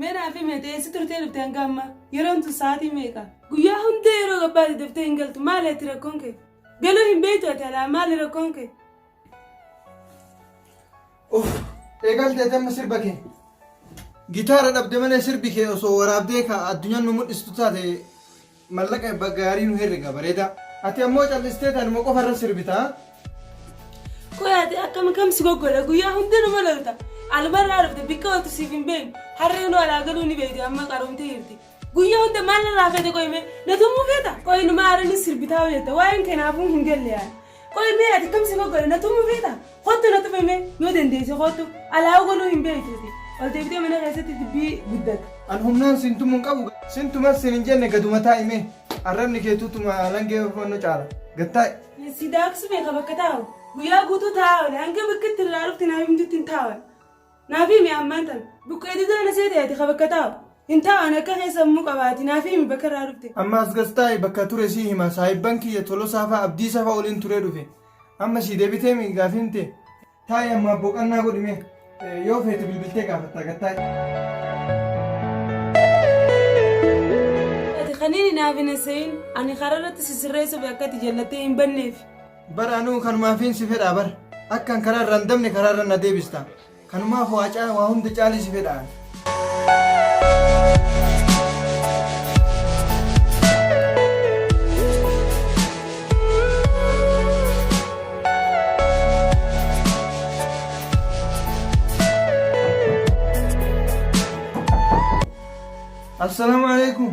Mee naaf himi ati eessa turtee dhufte hanga ammaa? Yeroon tun sa'aatii meeqa? Guyyaa hunda yeroo gabbaate daftee hin galtu maali ati rakkoon kee? Galuu hin beektu ati alaa maali rakkoon kee? Of eegaltee tamma sirba kee. Gitaara dhabde malee sirbi kee osoo waraabdee ka addunyaan nu mul'istu taate Mallaqa ebba gaarii nu herrega bareedaa. Ati ammoo callisteeti anuma qofa irra sirbita. Qoy ati akkam kam si goggola guyyaa hunda nama lolta. Almarraa dhufte bikka ooltu siif hin beeknu. Harree nu alaa galuu ni beekti amma qaroomtee jirti. Guyyaa hunda maal narraa feete qoy mee na tumuu feeta? Qoy numa aaranii sirbitaa hojjetta waa'een kee naafuu hin galle yaada. Qoyi mee ati kam si goggodhe na tumuu feeta? Kottu na tumi mee yoo dandeesse kottu alaawu gonuu hin beektuuti. Ol deebitee mana keessatti dubbii guddata. An humnaan sin tumuu hin qabu. Sin tumas sin hin jenne gaduma taa'i mee. Arrabni keetuu tuma langee hubannoo caala. Gad taa'i. Si daaksu beeka bakka taa'u. Guyyaa guutuu taa'aa oole hanga bakka itti irraa dhufte naaf himtutti hin taa'u. Naaf himi ammaan tan. Buqqee didaa na seete ati ka bakka taa'u. Hin taa'u ani akka keessa ammuu qabaati. Naaf himi bakka irraa dhufte. Amma as gas taa'i bakka ture sii hima saahibban kiyya Tolosaa fa'a Abdiisa fa'a waliin turee dhufe. Amma sii deebitee mi gaafiin tee? Taa'i amma boqannaa godhi mee. Eh, Yoo feete bilbiltee gaafatta gad taa'i. Ati kaniini naaf hin hasayin. Ani karaa irratti si sirreessuuf akka ati jallattee hin banneef. Bar anuu kanumaafiin si fedhaa bar. Akkan karaa irraa hin dabne karaa irra na deebista. Kanumaaf waa caa waa hunda caalii si fedha. Assalaamu alaikum.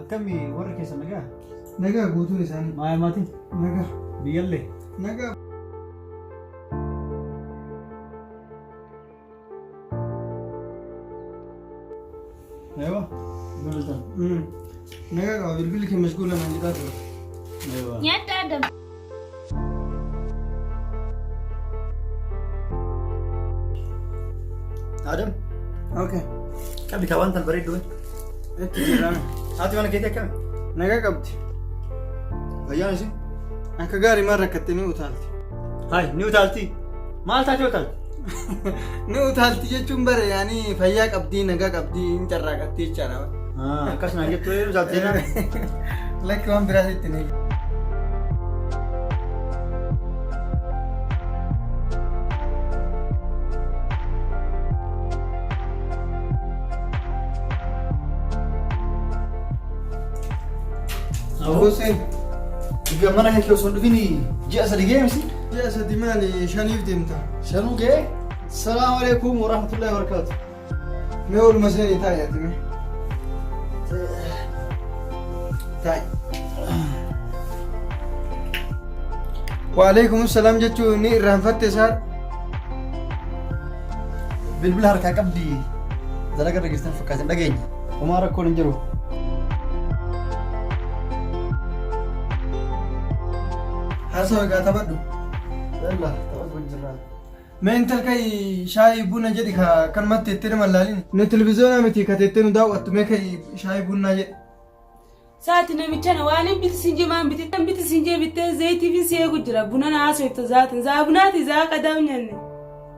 Akkami warri keessa nagaa? Nagaa guutuun isaanii. Maaya maatiin? Nagaa. Biyyallee? Nagaa. Eewa? Bilbiltan? Nagaa qaba bilbilli kee mashguula naan jedhaa ture. Eewa. Nyaata Adam. Adam. Okay. Qabdi kaa wanta bareedduu. Itti jiraan. Haati mana keetii akkami? Nagaa qabdi. Fayyaan isin? Akka gaarii maal rakkattee ni utaalti. Hayi ni utaalti. Maal taatee utaalti? Ni utaalti jechuun bare yaani fayyaa qabdii nagaa qabdii hin carraaqatti jechaadha. Akkas naan jettu yoo utaalti jennaan. Lakki waan biraas itti ni. Hussein, mana kee osoo hin dhufin ji'a sadi geemsi. Ji'a sadi maali shaniif deemta. Shanuu gee salaamu alaikum wa rahmatullahi wa barakaatu. Mee oolma seenii taa'i ati mee. Taa'i. Wa alaikum salaam jechuun ni irraanfatte isaa. Bilbila harkaa qabdi dalaga dhageessan fakkaatan dhageenya. Homaa rakkoon hin jiru. Haasoo egaa taphadhu. Yalla taphatu wajjin jirraa. Mee intal kai shaayii buna jedhi ka kan matti itti nama laalin. Nu televiziyoonaa miti ka teettee nu daawwattu mee kai shaayii bunaa jedhi. Saati namichana waan hin biti sinjee maan biti kan biti sinjee bittee zayitiifi si eegu jira bunana haasofta zaatin zaa bunaati zaa qadaa nyanne.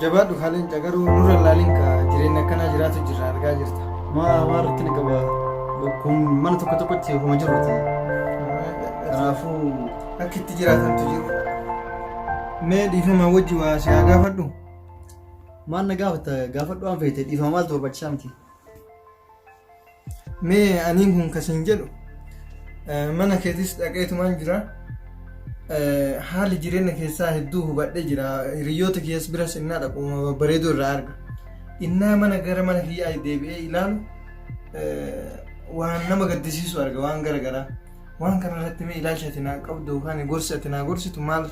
Jabaadhu kaa leenca garuu nurra hin laaliin kaa jireenya akkanaa jiraatu jirra argaa jirta. Maa waan rakkina qaba kun mana tokko tokkotti homa jiruuti. Kanaafuu akka itti jiraatantu jiru. Mee dhiifama wajji waa si haa gaafadhu. Maal na gaafata gaafadhu waan feete dhiifama maaltu barbaachisaa miti. Mee aniin kun kasiin jedhu mana keetis dhaqeetumaan jira. Haali jireenya keessaa hedduu hubadhee jira. Hiriyoota kiyyaas biras innaa dhaqu bareeduu irraa arga. Innaa mana gara mana kiyyaa deebi'ee ilaalu waan nama gaddisiisu arga waan gara garaa. Waan kana irratti mee ilaalcha ati naa qabdu yookaan gorsi ati naa gorsitu maal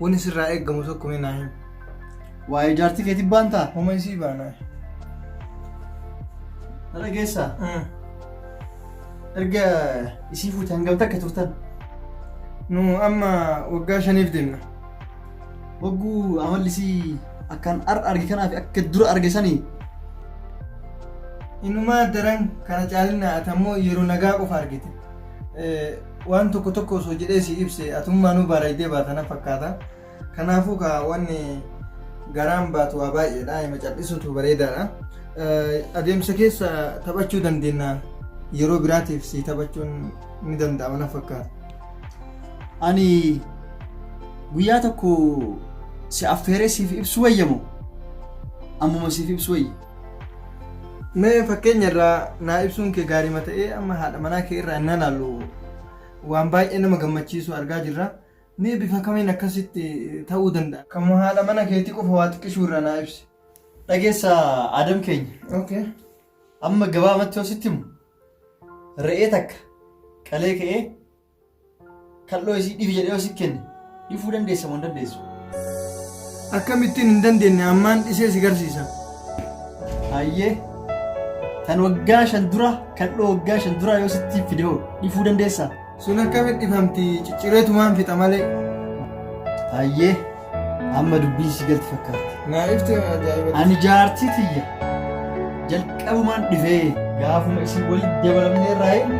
wani sirraa eegamu tokko mee naa himi. Waa'ee jaartii keetii baantaa? Homa isii baanaa. Na dhageessaa? Erga isii fuute hangam takka turtan? Nu amma waggaa shaniif deemna. Wagguu amalli isii akkan ar arge kanaa fi akka dura arge sanii Inumaa daran kana caalinaa ati ammoo yeroo nagaa qofa argite. waan tokko tokko osoo jedhee si ibse atummaanuu baaraydee baatana fakkaata. Kanaafuu kaa wanni garaan baatu waa baay'eedha. Hima cal'isuutu bareedaadha. Adeemsa keessa taphachuu dandeenya. Yeroo biraatiif si taphachuun ni danda'ama na fakkaata. Ani guyyaa tokko si affeeree siif ibsu wayyamu ammuma siif ibsu wayya. Mee fakkeenya irraa naa ibsuun kee gaariima ta'ee amma haadha manaa kee irraa innaa laallu waan baay'ee nama gammachiisu argaa jirra. Mee bifa kamiin akkasitti ta'uu danda'a? Kan haadha mana keetii qofa waa xiqqishuu irraa naa ibsi. Dhageessa Adam keenya. Okay. Amma gabaabatti yoo sitti himu re'ee takka qalee ka'ee Kal'oo isii dhifi jedhee yoo si kenne dhifuu dandeessa moo hin dandeessu? Akkamittiin hin dandeenye ammaan dhisee si garsiisa. Hayyee tan waggaa shan dura kal'oo waggaa shan dura yoo sitti fide hoo dhifuu dandeessaa? Sun akkamitti dhifamti ciccireetumaan fixa malee. Hayyee Amma dubbiin si galti fakkaatti. Naa ifti ajaa'iba. Ani jaartii tiyya jalqabumaan dhibee gaafuma isin walitti dabalamne irraa hin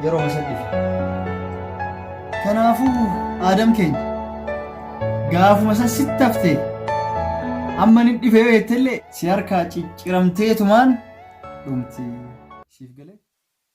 yeroo masa dhibe. Kanaafuu aadam keenya gaafuma san sitti haftee amma ni dhibee beektellee si harkaa cicciramteetumaan dhumti. Siif galee?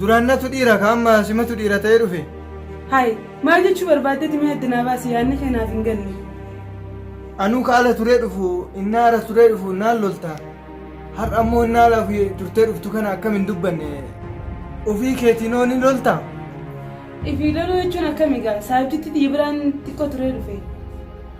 Duraan natu dhiira ka amma simatu dhiira ta'ee dhufe. Hayi maal jechuu barbaaddeeti mee adda naa baasi yaadni kee naaf hin galle. Anuu ka ala turee dhufu innaa ara turee dhufu naan lolta. Har'a ammoo innaa ala ofii turtee dhuftu kana akkam hin dubbanne. Ofii keetiin hoo ni lolta? Ifii loluu jechuun akkami gaa saabjitti xiyya biraan xiqqoo turee dhufe.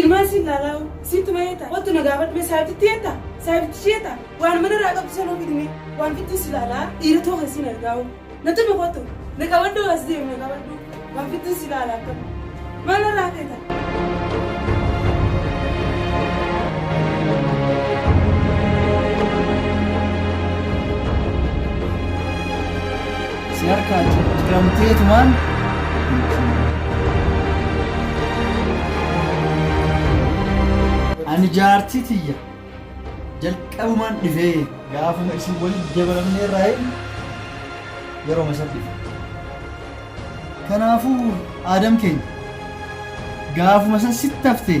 Ilmaan siin laalaa'u sitti mayeeta kottu na gaafadhu mee saahibtitti yeetta saahibtitti shiyeetta waan mana irraa qabdu sanuu fidime waan fittuu si laalaa dhiira too kan siin argaa'u na tume kottu na qabadhu as deemu na qabadhu waan fittuu si laala akka maal irraa feeta. Si harkaa jijjiramteetumaan Ani jaartii tiyya jalqabumaan dhifee gaafuma isin waliin dabalamnee irraa hin yeroo masa dhife. Kanaafuu aadam keenya gaafuma san sitti haftee